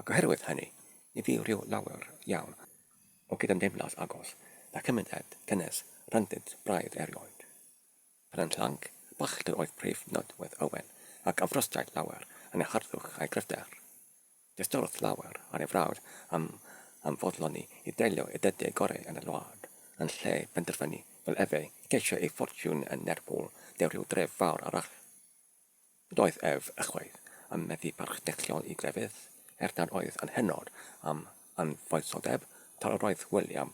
Ac oherwydd hynny, ni fu rhyw lawer iawn o gydymdeimlad agos â chymuned cynnes rhyngddynt braidd erioed. Penrhyn Llanc, Bachder oedd prif nodwedd Owen, ac afrostiai llawer yn ei harddwch a'i gryfder. Diystyrodd llawer ar ei frawd am am foddloni i deilio i'r dydiau goreu yn y wlad, yn lle penderfynu, fel efe, i geisio ei ffortiwn yn Lerpwl neu ryw dref fawr arall. Doedd ef ychwaith yn meddu parch deithiol i grefydd, er nad oedd yn hynod am anfoesoldeb, tra yr oedd William,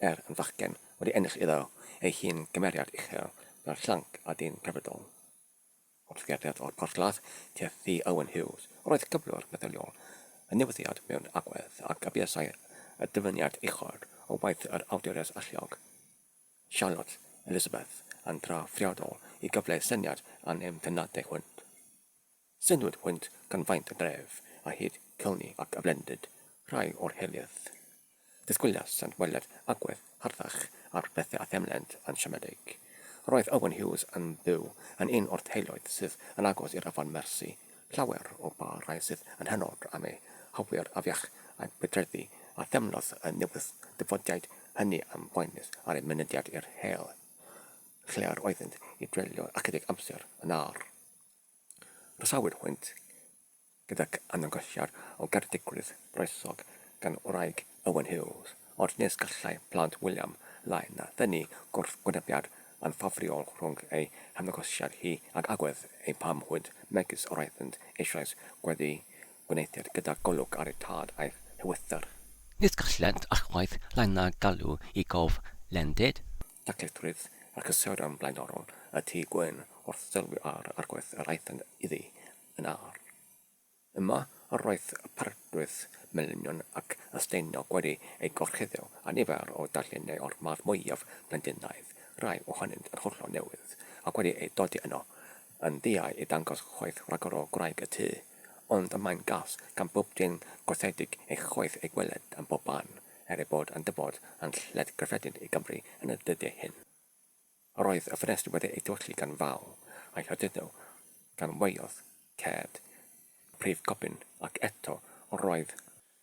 er yn fachgen, wedi ennill iddo ei hun gymeriad uchel fel llanc a dyn crefyddol. Wrth gerdded o'r porthladd tua'r Thŷ Owen Hughes, yr oedd cyflwr meddyliol y newyddiad mewn agwedd, ac y buasai y dyfyniad uchod o waith yr awdures alluog. Charlotte Elizabeth yn drawiadol i gyfleu syniad a nem teimladau hwynt. Synnwyd hwynt gan faint y dref, a hyd Cilni ac ymhlendid rhai o'r hiliaeth. Disgwyliasant weled agwedd harddach ar bethau a theimlent yn siomedig. Roedd Owen Hughes yn byw yn un o'r teuluoedd sydd yn agos i'r afon Mersi, Llawer o ba rai sydd yn hynod am eu hawliad afiach a'u budreddi a themlodd y newydd-ddyfodiaid hynny am boenus ar eu mynediad i'r hel lle yr oeddynt i dreulio ychydig amser yn âr. Rhesawyd hwynt gydag anongosiad o garedigrwydd groesog gan wraig Owen Hughes, ond nes gallai plant William lai na thynnu gwrthwynebiad anffafriol rhwng ei hymddangosiad hi ag agwedd ei fam hwyd, megis yr oeddynt eisoes wedi gweneithiad gyda golwg ar eu tad a'i hywythr. Nes gallent ychwaith lai na galw i gof lendid. Daclithrwydd a chysurion blaenorol y Tŷ Gwyn wrth sylwi ar yr agwedd yr aethant iddi yn arw. Yma yr oedd y parchfrwydd melynion ac ystaeniog wedi eu gorchuddio â nifer o darluniau o'r math mwyaf Londynaidd, rhai ohonynt yn hollol newydd, ac wedi eu dodi yno yn ddiau i ddangos chwaeth rhagor o gwraig y tŷ. Ond y mae'n gas gan bob dyn gorsedig ei chwaeth ei gweled ym mhob man, er ei bod yn dyfod yn lled gyffredin i Gymru yn y dyddiau hyn. Roedd y ffenestri wedi eu tolli gan faw a'i harduddo gan waelod ced y prif gobyn ac eto roedd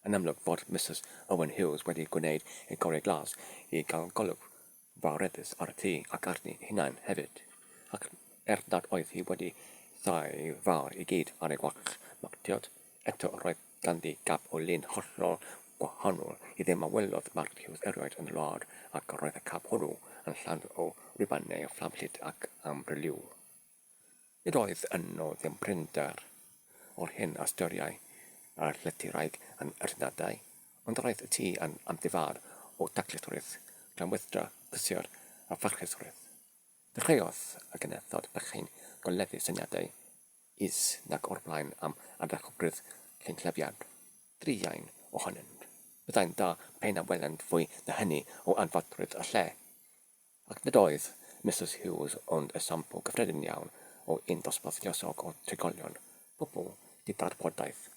yn amlwg fod Misus Owen Hughes wedi gwneud ei gorau glas i gael golwg fawreddus ar y tŷ ac arni'i hunain hefyd, ac er nad oedd hi wedi thai fawr i gyd ar ei wallt martiod, eto roedd Ganddi gap o lun hollol wahanol i ddim a welodd Mark Hughes erioed yn y wlad, ac roedd y cap hwnnw yn llawn o rwybannau o fflamllyd ac amryliw. Nid oedd yno ddim prinder o'r hyn a styriai ar llythyrraig yn yr Unedau, ond yr oedd y tŷ yn amddifâr o daclusrwydd, glanwydra, prysur a pharchusrwydd. Dechreuodd y genethod bychain goleddu syniadau. Is nag o'r blaen am ardderchogrwydd cynhlyfiad druan ohonynt. Byddai'n dda pe na welent fwy na hynny o anfadrwydd y lle. Ac nid oedd Misus Hughes ond esiampl gyffredin iawn o un dosbarth lluosog o drigolion, pobl di-ddarbodaeth,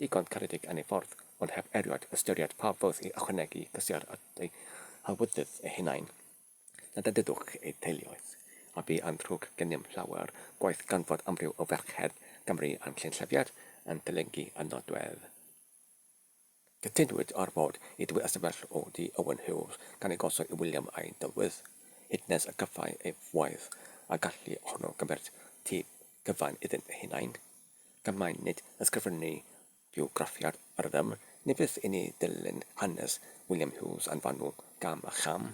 digon caredig yn ei ffordd, ond heb erioed ystyried pa fodd i ychwanegu cysur at eu hawyddydd eu hunain. Na dedydwch eu teuluoedd, a bu yn ddrwg gennym llawer gwaith gan fod amryw o ferched Cymru yn Llynllyfiad yn dylyngu y nodwedd. Cytunwyd ar fod i dwy ystafell o dŷ Owen Hughes gan ei gosod i William a'i dywydd, hyd nes y cyffai ei waith a gallu honno gymmeryd tŷ cyfan iddyn hunain. Gan mai nid ysgrifennu Bywgraffiad ar ddim, ni fydd i ni ddilyn hanes William Hughes yn fanwl gam a cham,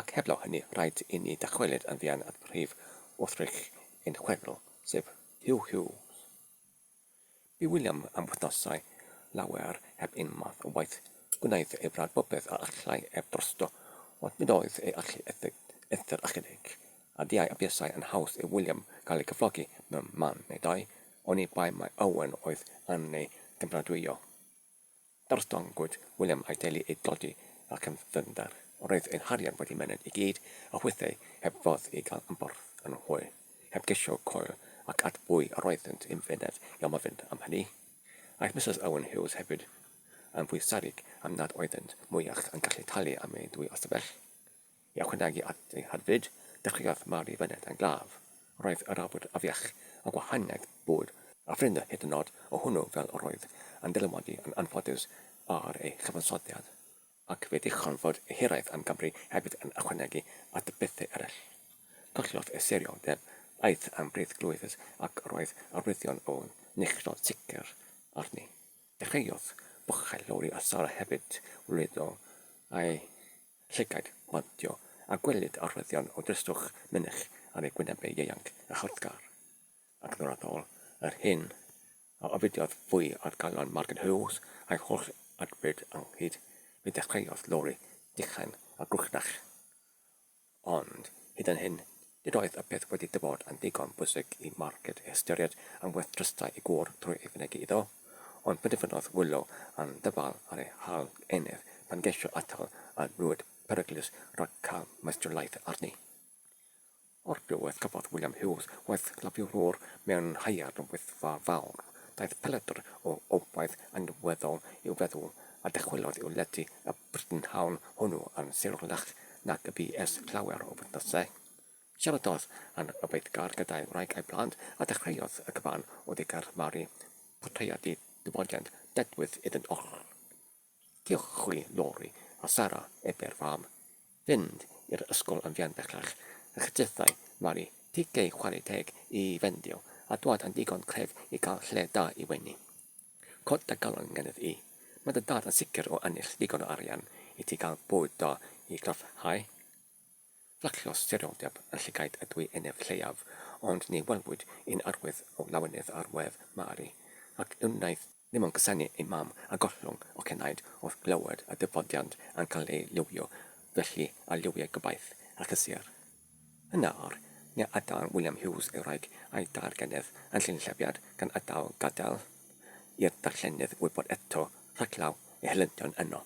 ac heblaw hynny rhaid i ni ddychwelyd yn fuan at brif wrthrych ein chwedl, sef Huw Hughes. Bu William am wythnosau lawer heb un math o waith, gwnaeth ei wrad bopeth a allai ef drosto, ond nid oedd ei allu eithr ychydig, a diau a buasai yn haws i William gael ei gyflogi mewn man neu ddau, Oni bai mai Owen oedd yn ei gymeradwyo. Darlledongwyd William a'i deulu i dodi ac yn ddyfnder. Roedd ei harian wedi myned i gyd a hwythau heb fodd i gael ymborth yn hwy, heb gesio coel ac at bwy yr oeddynt yn fyned i amlfynd am hynny. Aeth Misus Owen Hughes hefyd yn fwy serig am nad oeddynt mwyach yn gallu talu am ei dwy ystafell. I ychwanegu at ei haddfyd, dechreuodd Mari fyned yn glaf. Roedd yr awyr afiach, a gwahaniaeth bwyd a ffrind hyd yn oed o hwnnw fel yr oedd yn dylanwadu yn anffodus ar ei chyfansoddiad, ac fe ddichon fod ei hiraeth am Gymru hefyd yn ychwanegu at y pethau eraill. Collodd ei serioldeb, aeth am brith glwyfus ac roedd arwyddion o neilltuo sicr arni. Dechreuodd bochau llori a Sara hefyd, wrlwytho a'i Llygaid pontio a gwelid arwyddion o dristwch mynych ar ei gwynebau ieuanc a chrothgar. Ac yn raddol, yr hyn a ofidiodd fwy oedd galon Margaret Hughes a'i holl adfryd ynghyd. Fe ddechreuodd Lori dichain a gwrchdach, ond hyd yn hyn Nid oedd y peth wedi dy fod yn ddigon bwysig i Marged ystyried am werth drystai ei gŵr drwy ei fynegi iddo, ond penderfynodd wylo yn ddyfal ar ei hal enef pan geisio atal y rwyd peryglus rhag cael maestrulaeth arni. O'r diwedd cafodd William Hughes waith lafiwrwr mewn haearn o Wyddfa Fawr, daeth peledr o obaith anweddol i'w feddwl a dychwelodd i'w lety y brynhawn hwnnw yn syrlach nag y bu ers llawer o wythnosau. Siaradodd â'n yfeithgar gyda'i wraig a'i blant a dechreuodd y cyfan o ddigar Mari, portreadu diwydiant dedwydd iddynt oll. Diolch chwi, Lori, a Sara, ebe'r fam. fynd i'r ysgol yn fuan bellach, ac jythai Mari tig ei chwarae teg i Fendio a dwad yn ddigon clef i gael lle da i wenu. Cod dy galon gennyf i. Mae dy dad yn sicr o ennill ddigon o arian i ti gael bwyd da i gryfhau. Fflachio serioldeb yn llygaid y dwy eneb lleiaf, ond ni welwyd un arwydd o lawenydd ar wedd Mari, ac wnaiff Ni mo'n cusanu ei mam a gollwng o cenaid wrth glywed y dyfodiant yn cael ei liwio felly a liwiai gobaith a chysur. Yn nawr, ni adael William Hughes ei wraig a'i dair gennydd yn llunllefiad gan adael gadael i'r darllenydd wybod eto rhaglaw ei helyntion yno.